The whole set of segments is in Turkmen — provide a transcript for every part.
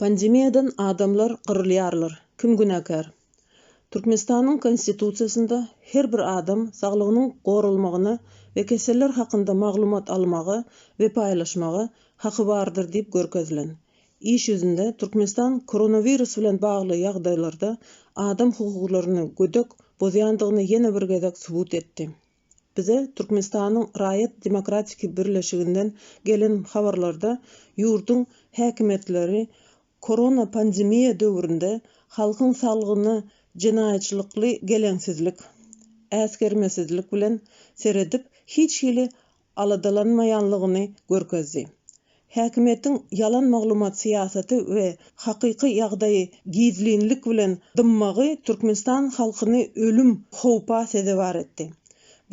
Pandemiýadan adamlar gyrylýarlar, kim günäkär? Türkmenistanyň Konstitusiýasynda her bir adam saglygynyň goralmagyna we keseller hakynda maglumat almaga we paýlaşmaga haky bardyr diýip görkezilen. Iş ýüzünde Türkmenistan koronawirus bilen bagly ýagdaýlarda adam hukuklaryny gödek bozýandygyny ýene bir gezek subut etdi. Bize Türkmenistanyň Raýat demokratiki birleşiginden gelen habarlarda ýurduň häkimiýetleri korona pandemiýa döwründe halkyň saglygyna jenaýatçylykly geleňsizlik, äsgermesizlik bilen seredip hiç hili aladalanmaýanlygyny görkezdi. Häkimiýetiň ýalan maglumat syýasaty we hakyky ýagdaýy gizlinlik bilen dymmagy Türkmenistan halkyny ölüm howpa sezewar etdi.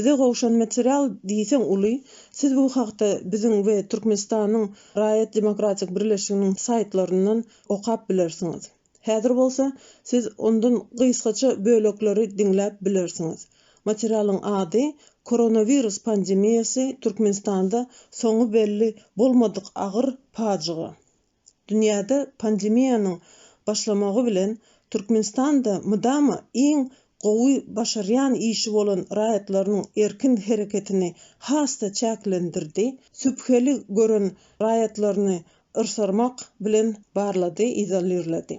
Bize gowşan material diýseň uly, siz bu hakda biziň we Türkmenistanyň Raýat demokratik birleşiginiň saýtlaryndan okap bilersiňiz. Häzir bolsa siz ondan gysgaça bölekleri diňläp bilersiňiz. Materialyň ady Koronawirus pandemiýasy Türkmenistanda soňy belli bolmadyk agyr pajyga. Dünýäde pandemiýanyň başlamagy bilen Türkmenistan-da mydama iň gowy başarýan işi bolan raýatlarynyň erkin hereketini has-da çäklendirdi, sübheli gören raýatlaryny yrsarmak bilen barlady, izolirledi.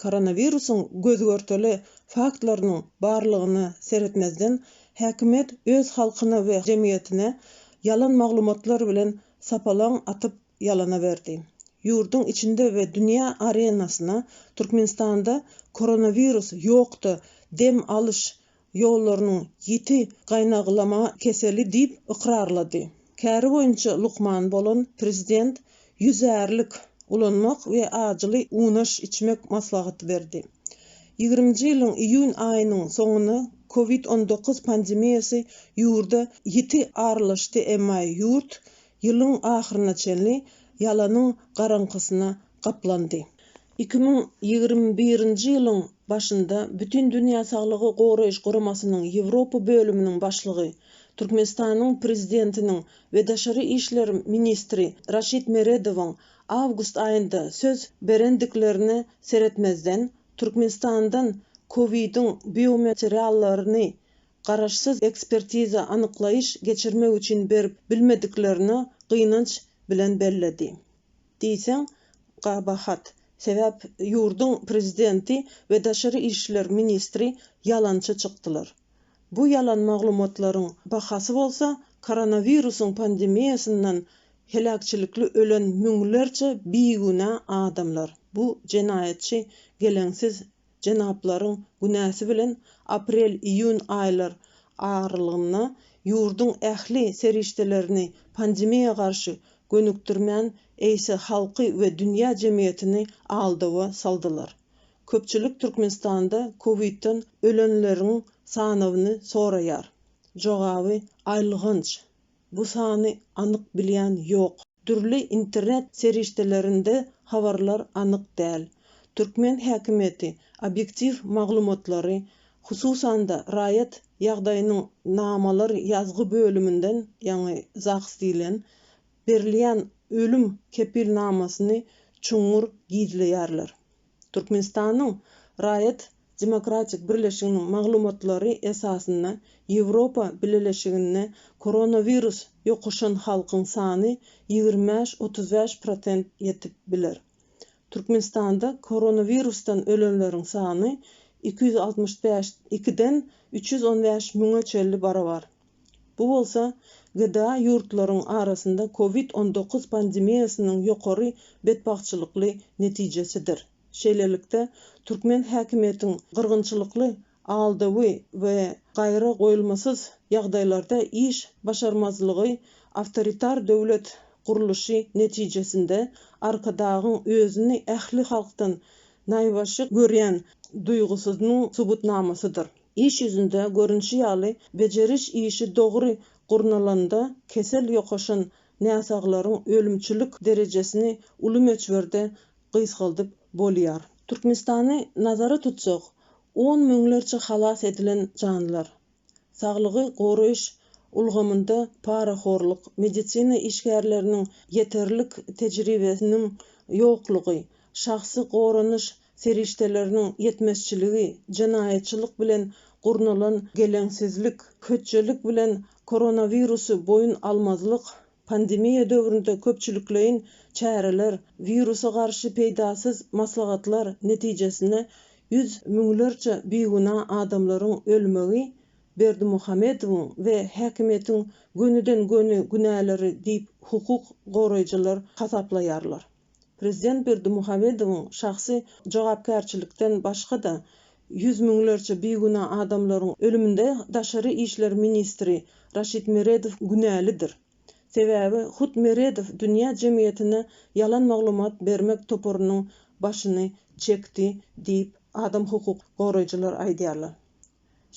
Koronawirusyň göz-görtele faktlarynyň barlygyna seretmezden, häkimiýet öz halkyna we jemgyýetine ýalan maglumatlar bilen sapalaň atyp ýalana berdi. Ýurduň içinde we dünýä arenasyna Türkmenistanda koronawirus ýokda dem alyş ýollarynyň ýiti gaýnaglama keseli diýip ykrarlady. Käri boýunça lukman bolan prezident ýüzärlik ulanmak we ajyly unaş içmek maslahaty berdi. Ýigriminji ýylyň iýun aýynyň soňuna Covid on dokuz pandemiýasy ýurda ýiti aralaşdy emma ýurt ýylyň ahyryna çenli ýalanyň garaňkysyna gaplandy. Iki müň ýigrimi birinji ýylyň başynda Bütindünýä Saglygy Goraýyş Guramasynyň Ýewropa bölüminiň başlygy, Türkmenistanyň Prezidentiniň we daşary işler ministri Raşid Meredowyň awgust aýynda söz berendiklerine seretmezden, Türkmenistandan COVID-iň biomateriallaryny garaşsyz ekspertiza-anyklaýyş geçirmek üçin berip bilmediklerini gynanç bilen belledi. Diýseň, gabahat. Sebäp ýurduň prezidenti we daşary işler ministri ýalançy çykdylar. Bu ýalan maglumatlaryň bahasy bolsa koronawirusyň pandemiýasyndan heläkçilikli ölen müňlerçe bigünä adamlar. Bu jenaýatçy geleňsiz Jenaplaryň günäsi bilen aprel-iýun aýlar aralygynda ýurduň ähli serişdelerini pandemiýa garşy gönükdirmän, eýse halky we dünýä jemgyýetini aldawa saldylar. Köpçülik Türkmenistanda kowidden ölenleriň sanawyny soraýar. Jogaby aýylganç. Bu sany anyk bilýän ýok. Dürli internet serişdelerinde habarlar anyk däl. Türkmen häkimiýeti obýektiw maglumatlary, hususan-da raýat ýagdaýynyň namalar ýazgy bölüminden, ýagny ZAGS diýlen, berilýän ölüm kepilnamasyny çuňňur gizleýärler. Türkmenistanyň Raýat demokratik birleşiginiň maglumatlary esasynda Ýewropa Bileleşiginde koronawirus ýokuşan halkyň sany ýigrimi bäş, otuz bäş prosent ýetip biler. Türkmenistanda koronawirusdan ölenleriň sany iki ýüz altmyş bäş, ikiden üç ýüz on bäş müňe çenli barabar. Bu bolsa GDA ýurtlaryň arasynda covid on dokuz pandemiýasynyň ýokary betbagtçylykly netijesidir. Şeýlelikde, türkmen häkimiýetiň gyrgynçylykly, aldawy we gaýra goýulmasyz ýagdaýlarda iş başarmazlygy awtoritar döwlet gurluşy netijesinde Arkadagyň özüni ähli halkdan naýbaşy görýän duýgusyzynyň subutnamasydyr. Iş ýüzünde görnüşi ýaly, bejeriş işi dogry gurnalanda kesel ýokaşan näsaglaryň ölümçilik derejesini uly möçberde gysgaldyp bolýar. Türkmenistany nazara tutsak, on müňlerçe halas edilen janlar, saglygy goraýyş ulgamynda parahorluk, medisina işgärleriniň ýeterlik tejribesiniň ýoklugy, şahsy goranyş serişdeleriniň ýetmezçiligi, jenaýatçylyk bilen gurnalan geleňsizlik, hötjelik bilen koronawirusy boýun almazlyk, pandemiýa döwründe köpçülikleýin çäreler, wirusa garşy peýdasyz maslahatlar netijesinde ýüz müňlerçe bigünä adamlaryň ölmegi Berdimuhamedowyň we häkimiýetiň gönüden-göni günäleri diýip hukuk goraýjylar hasaplaýarlar. Prezident Berdimuhamedowyň şahsy jogapkärçilikden başga-da, ýüz müňlerçe bigünä adamlaryň ölüminde daşary işler ministri Raşid Meredow günälidir. Sebäbi hut Meredow dünýä jemgyýetine ýalan maglumat bermek toparynyň başyny çekdi diýip, adam hukuk goraýjylar aýdýarlar.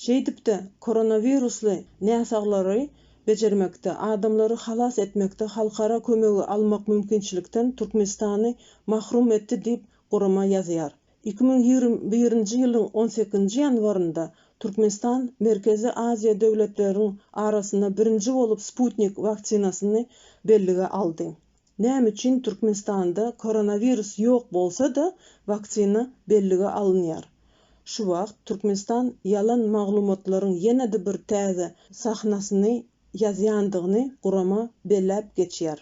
Şeýdip-de, koronawirusly näsaglary bejermekde, adamlary halas etmekde halkara kömegi almak mümkinçilikden Türkmenistany mahrum etdi diýip, gurama ýazýar. Iki müň ýigrimi birinji ýylyň on sekizinji ýanwarynda Türkmenistan Merkezi Aziýa döwletleriniň arasynda birinji bolup Sputnik waksinasyny bellige aldy. Näme üçin Türkmenistanda koronawirus ýok bolsa-da, waksina bellige alynýar? Şu wagt Türkmenistan ýalan maglumatlaryň ýene-de bir täze sahnasyny ýazýandygyny gurama belläp geçýär.